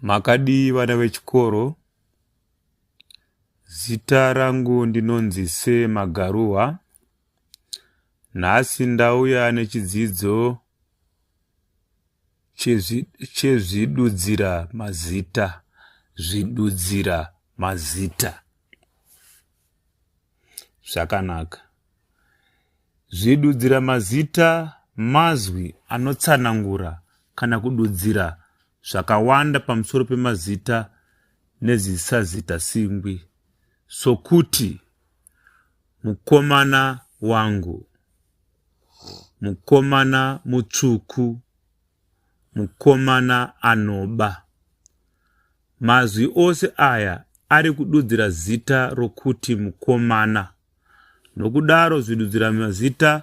Makadii vana vechikoro? Zita rangu ndinonzi Se Magaruwa. Nhasi ndauya nechidzidzo chezvidudzira mazita. Zvidudzira mazita. Zvakanaka. Zvidudzira mazita mazwi anotsanangura kana kududzira zvakawanda pamusoro pemazita nezisazita singwi sokuti mukomana wangu mukomana mutsvuku mukomana anoba mazwi ose aya ari kududzira zita rokuti mukomana nokudaro zvidudzira mazita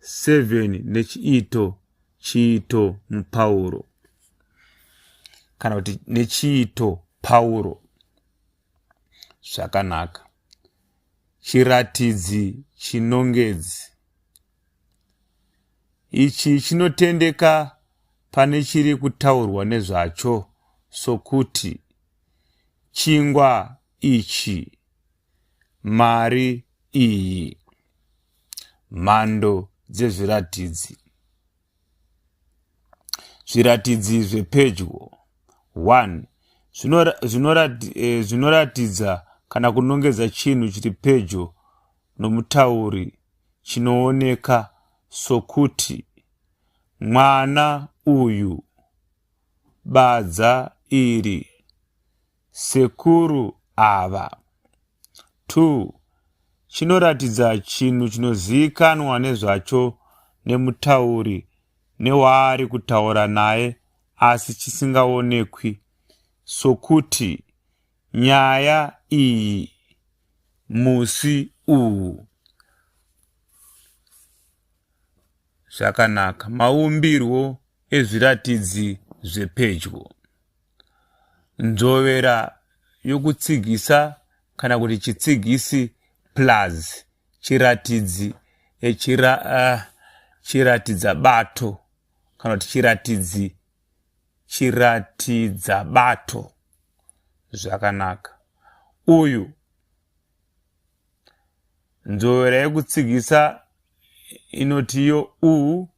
7 nechiito chiito mupauro kana kuti nechiito pauro zvakanaka chiratidzi chinongedzi ichi chinotendeka pane chiri kutaurwa nezvacho sokuti chingwa ichi mari iyi Mhando dzezviratidzi Zviratidzi zvepedyo 1 eh, zvinoratidza kana kunongedza chinhu chiri pedyo nomutauri chinooneka sokuti mwana uyu badza iri Sekuru ava. Two, chinoratidza chinhu chinozivikanwa nezvacho nemutauri newaari kutaura naye asi chisingaonekwi sokuti nyaya iyi musi uwu. Zvakanaka. Maumbirwo ezviratidzi zvepedyo. nzvovera yokutsigisa kana kuti chitsigisi plus chiratidzi eh, chira, uh, chiratidza bato kana kuti chiratidzi chiratidza bato zvakanaka uyu nzvovera yekutsigisa inotiyo u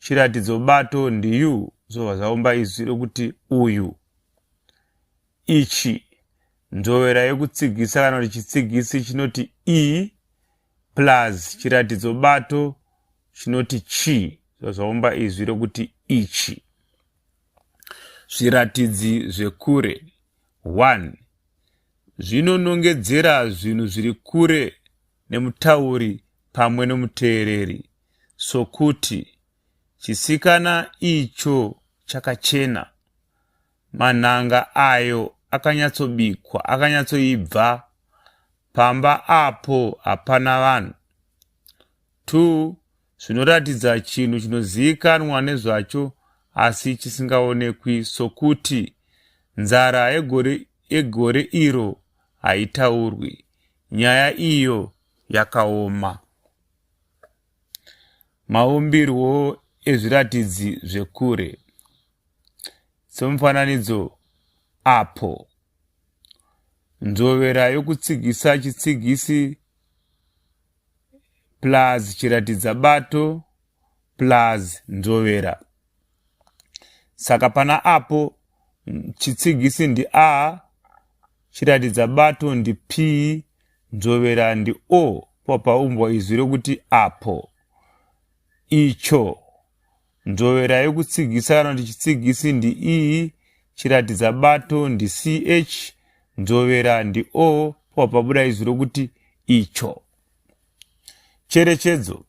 chiratidzo bato ndiyu zvobva zvaumba izwi rokuti uyu ichi nzvovera yokutsigisa kana kuti chitsigisi chinoti i plus chiratidzo bato chinoti chi zvobva zvaumba izwi rokuti ichi zviratidzi zvekure 1 zvinonongedzera zvinhu zviri kure nemutauri pamwe nomuteereri sokuti chisikana icho chakachena manhanga ayo akanyatsobikwa akanyatsoibva pamba apo hapana vanhu two zvinoratidza chinhu chinozivikanwa nezvacho asi chisingaonekwi sokuti nzara yegore, yegore iro haitaurwi nyaya iyo yakaoma. Maumbirwo ezviratidzi zvekure somufananidzo apo nzvovera yokutsigisa chitsigisi plus chiratidza bato plus nzvovera. saka pana apo chitsigisi ndi a chiratidza bato ndi p nzvovera ndi o papaumbwa izwi rokuti apo icho nzvovera yokutsigisa kana kuti chitsigisi ndi e chiratidza bato ndi ch nzvovera ndi o papabuda izwi rokuti icho cherechedzo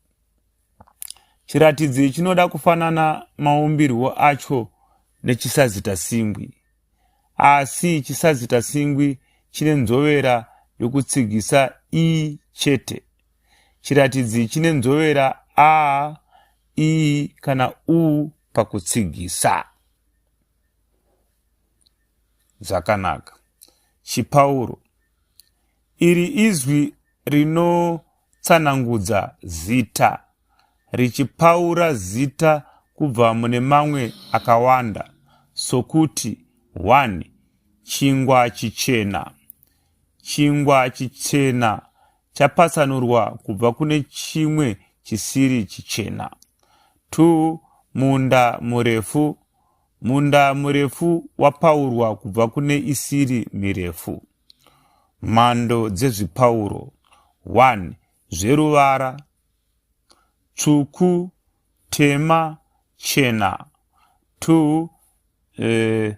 Chiratidzi chinoda kufanana maumbirwo acho nechisazita singwi. Asi chisazita singwi chine nzovera yokutsigisa i chete. Chiratidzi chine nzovera a, i kana u pakutsigisa. Zvakanaka. Chipauro. Iri izwi rino Tsanangudza zita richipaura zita kubva mune mamwe akawanda sokuti 1. Chingwa chichena Chingwa chichena chapatsanurwa kubva kune chimwe chisiri chichena. 2. Munda murefu Munda murefu wapaurwa kubva kune isiri mirefu. Mhando dzezvipauro 1 zveruvara tsvuku, tema, chena 2 eh,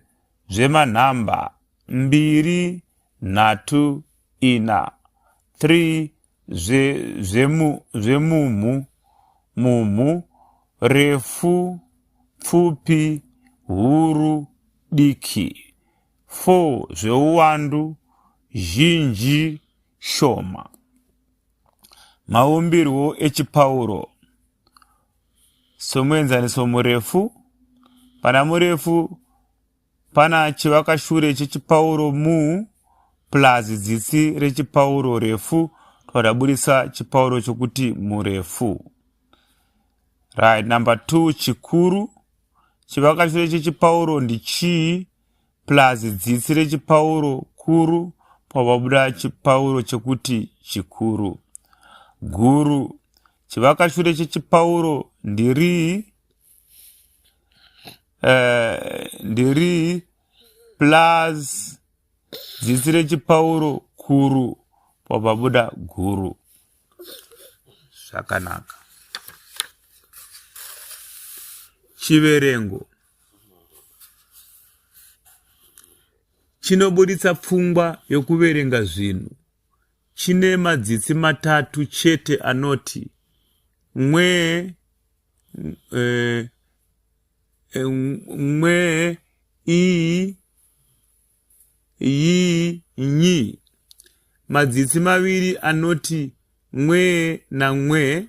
zvemanhamba mbiri, nhatu, ina 3 zvemumhu mumhu refu pfupi huru diki 4 zveuwandu zhinji shoma. Maumbirwo echipauro somuenzaniso murefu pana murefu pana chivakashure chechipauro mu plus dzitsi rechipauro refu twadaburitsa chipauro chokuti murefu right number two chikuru Chivakatiro chechipauro ndichii plus dzitsi rechipauro kuru pababuda chipauro chekuti chikuru. Guru. Chivakashure chechipauro ndirii eh, ndirii plus dzitsi rechipauro kuru pababuda guru. zvakanaka chiverengo chinoburitsa pfungwa yokuverenga zvinhu chine madzitsi matatu chete anoti mwe eh, eh, mwe i yii nyi madzitsi maviri anoti mwee namwee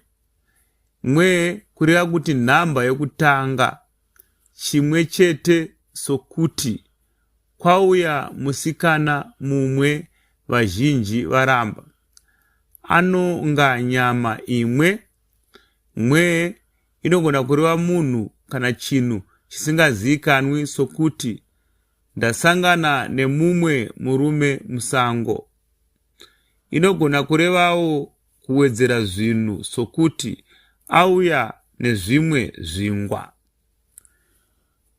mwee kureva kuti nhamba yokutanga chimwe chete sokuti kwauya musikana mumwe vazhinji varamba anonga nyama imwe mwee inogona kureva munhu kana chinhu chisingaziikanwi sokuti Ndasangana nemumwe murume musango. Inogona kurevawo kuwedzera zvinhu sokuti auya nezvimwe zvingwa.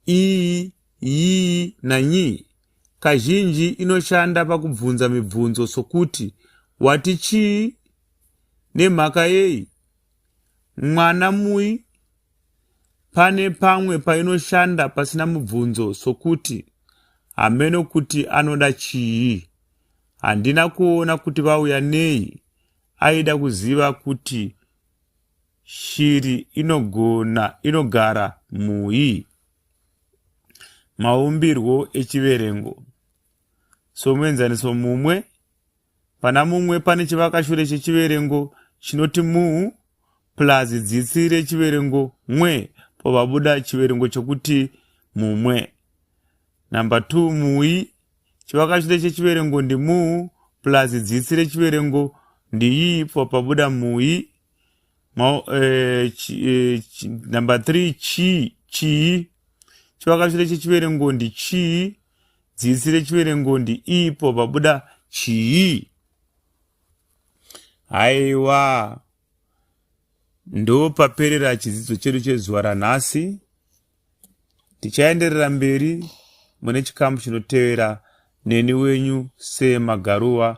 Iyi, yii nanyii kazhinji inoshanda pakubvunza mibvunzo sokuti wati chii, nemhaka yei, Mwana mui pane pamwe painoshanda pasina mubvunzo sokuti hameno kuti anoda chii. Handina kuona kuti vauya nei, aida kuziva kuti shiri inogona inogara mui. Maumbirwo echiverengo somuenzaniso mumwe Pana mumwe pane chivakashure chechiverengo chinoti mu plus dzitsi rechiverengo mwe povabuda chiverengo chokuti mumwe. Number 2 mui chivakashure chechiverengo ndi mu plus dzitsi rechiverengo ndiyi popabuda mui. Ma, eh, chi, eh, chi, number 3 chi chii chivakashure chechiverengo ndi chii Dzisi rechiverengondi ipo pabuda chii? Haiwa, ndopaperera chidzidzo chedu chezuva ranhasi. Tichaenderera mberi mune chikamu chinotevera neni wenyu Sema Garuwa